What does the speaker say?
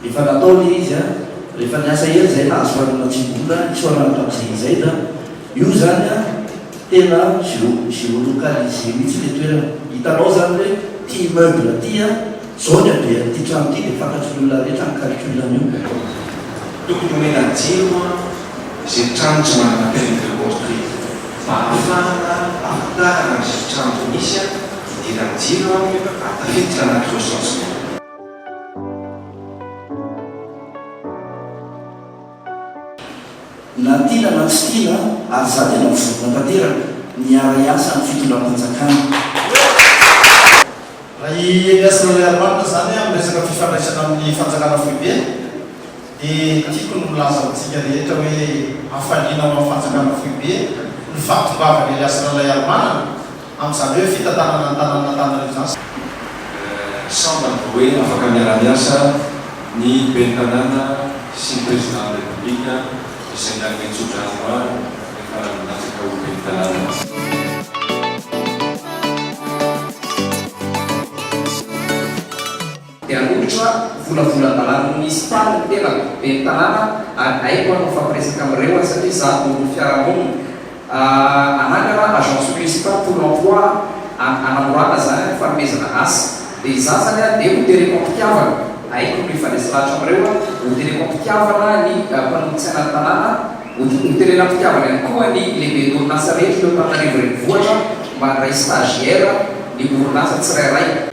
Efa natao le izy a! Rehefa niasa hery zay nahazo fanina tsy mora isaorana tamin'izay izay a! Io zany a tena geo geolocalisé mihitsy le toerana! Hitanao zany hoe ty immeuble ty a, zao ny habean'ity trano ty de fantatry ny olona rehetra ny calcul an'io. Tokony omena jiro moa izay trano tsy manana permis de construire mba ahafahana ahafantarana izay trano misy a, idiran'ny jiro a, tafiditra anaty recensement. Na tiana na tsy tiana ary za tena mivonona tanteraka ny hiara hiasa amin'ny fitondram-panjakana. Raha i Elias Lalaiarmanina izany amin'ny resaka fifandraisana amin'ny fanjakana foibe dia tiako ny milaza amintsika rehetra hoe hafaliana ho an'ny fanjakana foibe ny fahatongavan'i Elias Lalaiarimanana Amin'izany hoe fitantanana ny tanànan'Antananarivo izany sy. Sambany vao hoe afaka miara-miasa ny ben'ny tanàna sy ny Prezidanan'ny Repoblika izay nanome tso-drano maro rehefa nilatsaka ho ben'ny tanàna. Dia hanolotra volavolan-dalàna ho nisy tany ny tenako, ben'ny tanàna, ary haiko ary mifampiresaka amin'ireo aho satria izaho mpanonofy fiarahamonina. Hanangana agence municipale pour l'emploi an, hanamorana izany ny fanomezana asa. Dia izaho izany an, dia ho tereko am-pitiavana, haiko ny mifanesy lahatra amin'ireo an, ho tereko am-pitiavana ny mpanolotsaina ny tanàna, ho ho terena am-pitiavana ihany koa ny lehiben'orinasa rehetra eto Antananarivo Renivohitra mba handray stagiaire ny orinasa tsirairay.